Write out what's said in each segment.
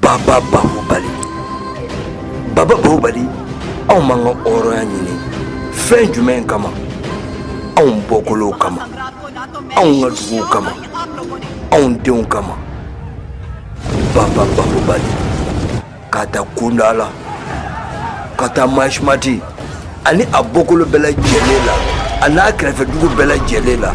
Baba Bahubali Baba Bahubali anw m'an ka hɔrɔnya ɲini fɛn jumɛn kama anw bɔkolow kama anw ka duguw kama anw denw kama Baba Bahubali Ka taa kundala ka taa masimati ani a bɔkolo bɛɛ lajɛlen la a n'a kɛrɛfɛ dugu bɛɛ lajɛlen la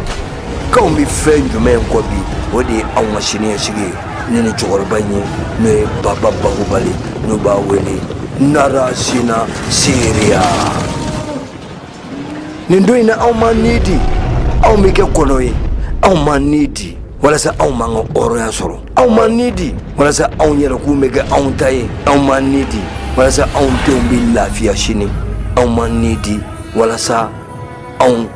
k'anw bɛ fɛn jumɛn kɔ bi o de ye anw ka siniɲɛsigi ye ne ni cɛkɔrɔba in ye n'o ye baba bahubali n'u b'a wele narasina seriya nin don in na anw m'an ni di anw bɛ kɛ kɔnɔ ye anw m'an ni di walasa anw m'an ka hɔrɔnya sɔrɔ anw m'an ni di walasa anw yɛrɛkun bɛ kɛ anw ta ye anw m'an ni di walasa anw denw bɛ lafiya sini aw ma ni di walasa anw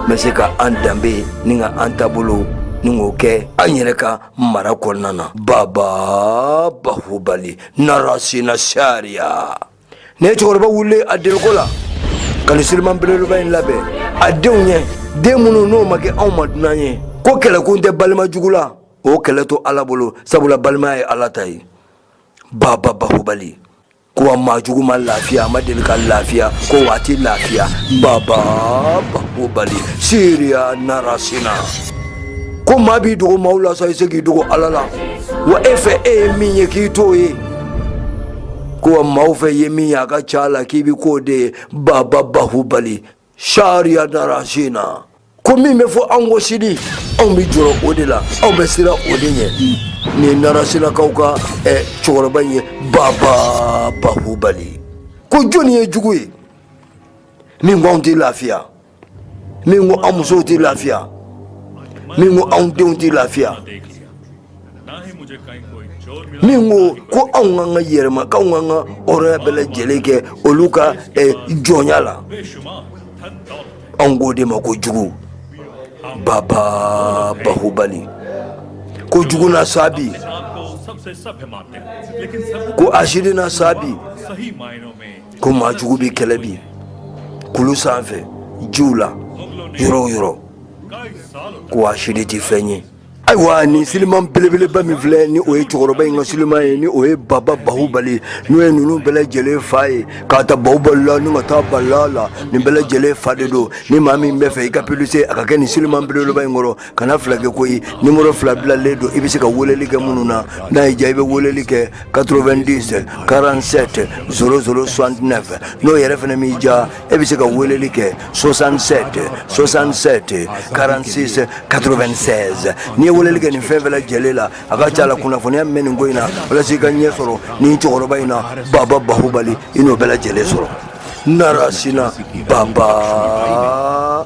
bɛ se ka an danbe ni ka an taabolo ni k'o kɛ an yɛrɛ ka mara kɔnɔna na baba bahubali narasina sariya ne ye cɛkɔrɔba wulile a deliko la ka nin siliman belebeleba in labɛn a denw ɲɛ den minnu n'o ma kɛ anw ma dunan ye ko kɛlɛkun tɛ balima jugu la o kɛlɛ to ala bolo sabula balimaya ye ala ta ye baba bahubali ko a maa jugu ma lafiya a ma deli ka lafiya ko waati lafiya baba bahubali siriya narasina ko maa b'i dogo maaw la sa i se k'i dogo ala la wa e fɛ e ye min ye k'i t'o ye ko maaw fɛ ye min ye a ka ca la k'i bɛ k'o de ye baba bahubali sariya narasina ko min bɛ fɔ an kɔ sini anw bɛ jɔrɔ o de la anw bɛ siran o de ɲɛ nin ye narasinakaw ka eh, cɛkɔrɔba in ye baba bahubali ko jɔnni ye jugu ye min ko anw tɛ lafiya min ko an musow tɛ lafiya min ko anw denw tɛ lafiya min ko ko anw k'an ka yɛrɛma k'anw k'an ka hɔrɔnya bɛɛ lajɛlen kɛ olu ka eh, jɔnya la anw k'o de ma ko jugu baba bahubali ko jugu na sa bi ko hasidi na sa bi ko maa jugu bɛ kɛlɛ bi kulu sanfɛ jiw la yɔrɔ o yɔrɔ ko hasidi tɛ fɛn ye ayiwa nin siliman belebeleba min filɛ ni o ye cɛkɔrɔba in ka siliman ye ni o ye baba bahubali n'o ye ninnu bɛɛ lajɛlen fa ye k'a ta bahubali la ni ka taa bala la nin bɛɛ lajɛlen fa de don ni maa min bɛ fɛ i ka publicité a ka kɛ nin siliman belebeleba in kɔrɔ kana fila kɛ koyi nimoro fila bilalen don i bɛ se ka weleli kɛ minnu na n'a y'i diya i bɛ weleli kɛ 90 47 00 69 n'o yɛrɛ fana m'i diya e bɛ se ka weleli kɛ 67 67 46 96 n'i ye weleli kɛ nin fɛn fɛn lajɛlen la a ka ca la kunnafoniya min bɛ nin ko in na walasa i ka ɲɛ sɔrɔ nin cɛkɔrɔba in na baba bahubali i n'o bɛɛ lajɛlen sɔrɔ narasina baba